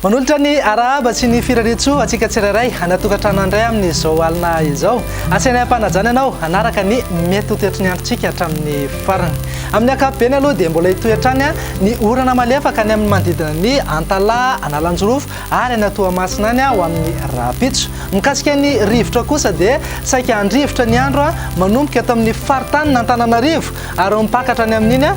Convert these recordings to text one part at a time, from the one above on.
manolotra ny arahaba sy ny firarintsoa antsika tsirairay anatokantrano andray amin'izao alina izao asainay am-panajana ianao hanaraka ny mety ho toetry ny androntsika hatramin'ny farany amin'ny ankapobeny aloha dia mbola hitoetrany ny orana malefaka any amin'ny manodidina ny antalaha analanjorofo ary any Toamasina any ho amin'ny rahampitso. Mikasika ny rivotra kosa dia saika handrivotra ny andro manomboka eto amin'ny faritanin'Antananarivo ary ho mipakatra any amin'iny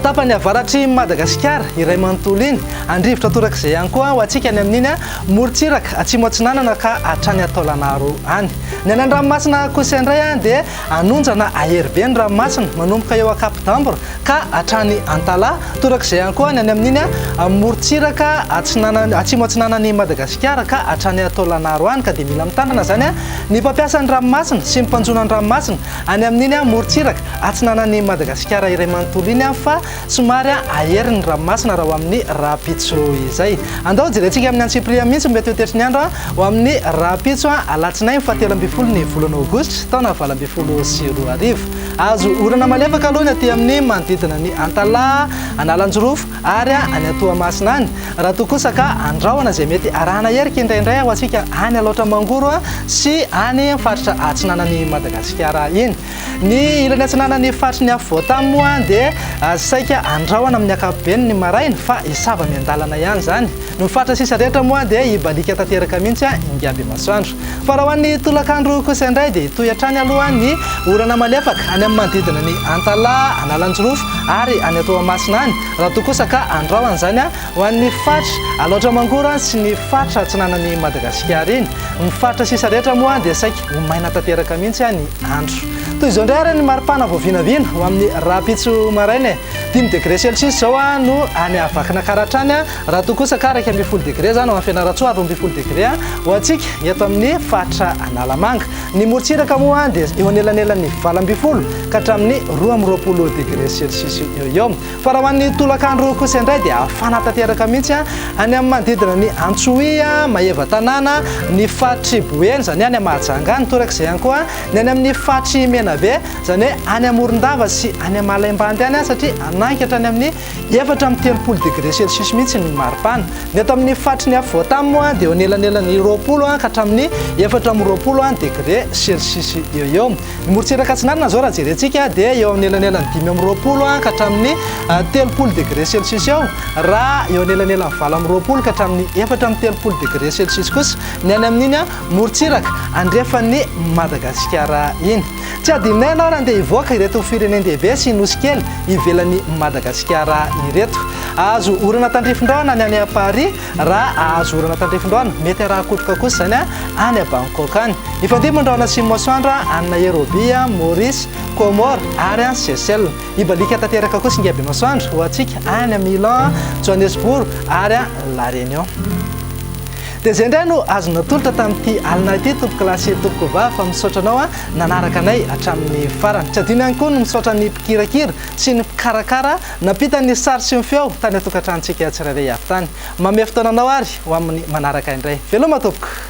tapany avaratr'i Madagasikara iray manontolo iny. Handrivotra torak'izay ihany koa ho antsika any amin'iny morontsiraka atsimo atsinanana ka hatrany Taolagnaro any. Ny any an-dranomasina kosa indray dia hanondrana ahery be ny ranomasina manomboka eo Cap d'Ambre ka hatrany Antalaha, torak'izay ihany koa ny any amin'iny amorontsiraka atsinanan'i, atsimo atsinanan'i Madagasikara ka hatrany Taolagnaro any, ka dia mila mitandrina izany ny mpampiasa ny ranomasina sy ny mpanjono an-dranomasina any amin'iny amorontsiraka atsinanan'i Madagasikara iray manontolo iny fa somary ahery ny ranomasina raha ho amin'ny rahampitso izay. Andao jerentsika amin'ny antsipiriany mihitsy ny mety ho toetry ny andro ho amin'ny rahampitso alatsinainy fahatelo ambin'ny folo ny volana aogositra taona valo ambin'ny folo sy roa arivo. Azo orana malefaka aloha ny aty amin'ny manodidina ny Antalaha, Analanjirofo ary any Toamasina any. Raha toa kosa ka andrahona izay mety arahana hery kindraindray ho antsika any Alaotra Mangoro sy any faritra atsinanan'i Madagasikara iny. Ny ilany atsinanan'ny faritry ny afovoantany moa dia saika andrahona amin'ny ankapobeny ny maraina fa hisava miandalana ihany izany. Ny faritra sisa rehetra moa dia hibaliaka tanteraka mihitsy ingahy Bemasoandro. Fa raha ho an'ny tolakandro kosa indray dia hitohy hatrany aloha ny orana malefaka any amin'ny manodidina an'i Antalaha, Analanjirofo ary any Toamasina any, raha toa kosa ka andrahona izany ho an'ny faritra Alaotra Mangoro sy ny faritra atsinanan'i Madagasikara iny. Ny faritra sisa rehetra moa dia saika ho maina tanteraka mihitsy ny andro. Toy izao indray ary ny maripana vao vinavina ho amin'ny rahampitso maraina e! Dimy degré celcius izao no any Vakinankaratra any. Raha toa kosa ka iraika ambin'ny folo degre izany ho an'i Fianarantsoa ary roa ambin'ny folo degre ho antsika eto amin'ny faritra Analamanga. Ny morontsiraka moa dia eo anelanelan'ny valo ambin'ny folo ka hatramin'ny roa amby roapolo degre celsius eo ho eo. Fa raha ho an'ny tolakandro kosa indray dia hafana tanteraka mihitsy any amin'ny manodidina an'i Antsohihy, Maevatanàna, ny faritr'i Boeny, izany hoe any Mahajanga any, torak'izay ihany koa ny any amin'ny faritr'i Menabe, izany hoe any Morondava sy any Malaimbandy any satria hanaiky hatrany amin'ny Efatra amby telopolo degré celsius mihitsy ny maripana. Ny eto amin'ny faritry ny afovoan-tany moa dia eo anelanelan'ny roapolo ka hatramin'ny efatra amby roapolo degré celsius eo eo. Ny morontsiraka atsinanana izao raha jerentsika dia eo amin'ny elanelan'ny dimy amby roapolo ka hatramin'ny telopolo degré celsius eo raha eo anelanelan'ny valo amby roapolo ka hatramin'ny efatra amby telopolo degré celsius kosa ny any amin'iny morontsiraka andrefan'i Madagasikara iny. Tsy hadinonay ianao raha handeha hivoaka ireto firenen-dehibe sy nosy kely ivelan'i Madagasikara ireto. Hahazo orana tandrifin-drahona ny any Paris, raha hahazo orana tandrifin-drahona, mety arahan-kotroka kosa izany an, any Bangkok any. Hifandimby ny rahona atsimon'ny masoandro any Nairobi, Maurice, Comores ary any Seychelles. Hibaliaka tanteraka kosa ingahy Bemasoandro ho antsika any Milan, Johannesburg ary La Réunion. Dia izay indray no azo natolotra tamin'ity alina ity Tompoko lahy sy Tompoko vavy fa misaotra anao a nanaraka anay hatramin'ny farany. Tsy adino ihany koa ny misaotra ny mpikirakira sy ny mpikarakara nampita ny sary sy ny feo tany an-tokantranontsika tsirairay avy tany. Mamehy fotoana anao ary ho amin'ny manaraka indray. Veloma Tompoko!